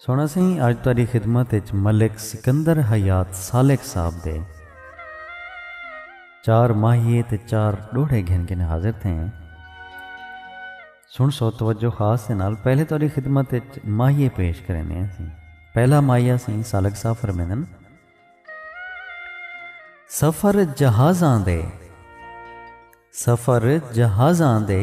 سونا سئیں اج تہاڈی خدمت اچ ملک سکندر حیات سالک صاحب دے چار ماہیے تے چار ڈوہڑے گھن کنے حاضر تھیں سن سو توجہ خاص دے نال پہلے تہاڈی خدمت اچ ماہیے پیش کرینے ہیں سیں پہلا ماہیہ سیں سالک صاحب فرمیندن سفر جہازاں دے سفر جہازاں دے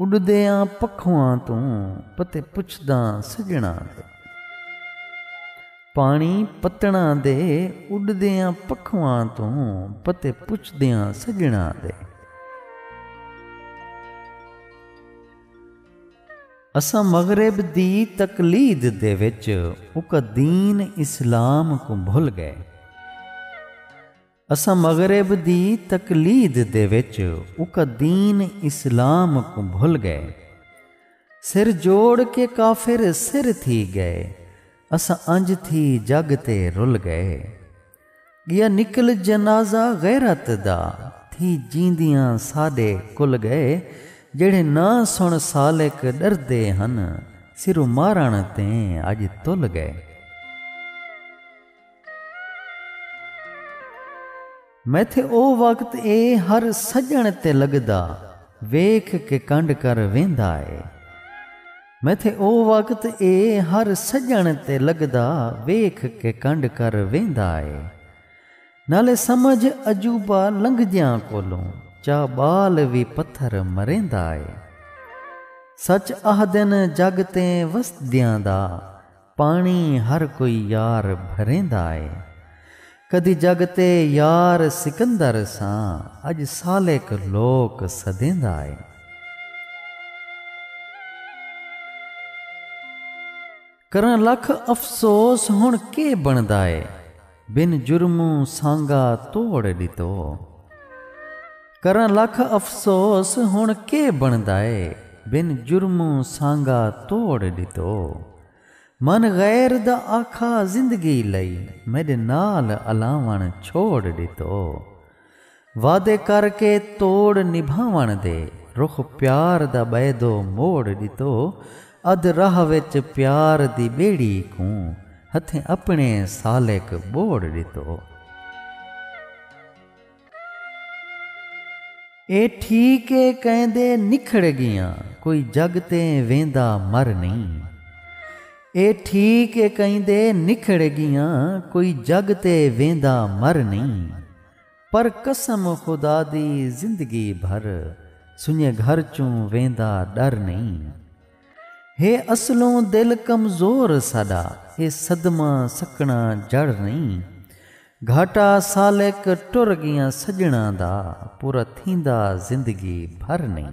اݙدیاں پکھواں توں پتے پچھداں سڄݨاں دے۔ پاݨی پتݨاں دے اݙدیاں پکھواں توں پتے پچھدیاں سڄݨاں دے۔ اساں مغرب دی تقلید دے وچ اکا دین اسلام کوں بھل ڳئے۔ اساں مغرب دی تقلید دے وچ اکا دین اسلام کوں بھل گئے۔ سر جوڑ کے کافر سر تھی گئے۔ اساں انج تھی جگ تے رل گئے۔ گیا نکل جنازہ غیرت دا تھی جیندیاں ساڈے کل گئے۔ جیڑھے نہ سن سالک ڈردے ہن سرو مارن تیں اج تل گئے۔ میتھے او وقت اے ہر سڄݨ تے لڳدا ویکھ کے کنڈ کر ویندا اے میتھے او وقت اے ہر سڄݨ تے لڳدا ویکھ کے کنڈ کر ویندا اے نالے سمجھ عجوبہ لنگھدیاں کولوں چا ٻال وی پتھر مریندا اے سچ آہدن جڳ تیں وسدیاں دا پاݨی ہر کوئی یار بھریندا اے۔ کدی جڳ تے یار سکندر ساں اڄ سالک لوک سدیندا اے۔ کراں لکھ افسوس ہݨ کے بݨدا اے۔ بن جرموں سانگا توڑ ݙتو۔ کراں لکھ افسوس ہݨ کے بݨدائے بن جرموں سانگا توڑ ݙتو۔ من غیر دا آکھا زندگی لئی میݙے نال الاوݨ چھوڑ ݙتو۔ وعدے کر کے توڑ نبھاوݨ دے۔ رخ پیار دا ٻئے دو موڑ ݙتو۔ ادھ راہ وچ پیار دی ٻیڑی کوں۔ ہتھیں اپݨے سالک ٻوڑ ݙتو۔ اے ٹھیک اے کئیں دے نکھڑ ڳیاں۔ کوئی جڳ تے ویندا مر نئیں۔ اے ٹھیک اے کئیں دے نکھڑ ڳیاں۔ کوئی جڳ تے ویندا مر نئیں۔ پر قسم خدا دی زندگی بھر سنڄے گھر چوں ویندا ݙر نئیں ہے اصلوں دل کمزور ساݙا ہے صدمہ سکݨا جڑ نئیں گھاٹا سالک ٹر ڳیاں سڄݨاں دا پورا تھیندا زندگی بھر نئیں۔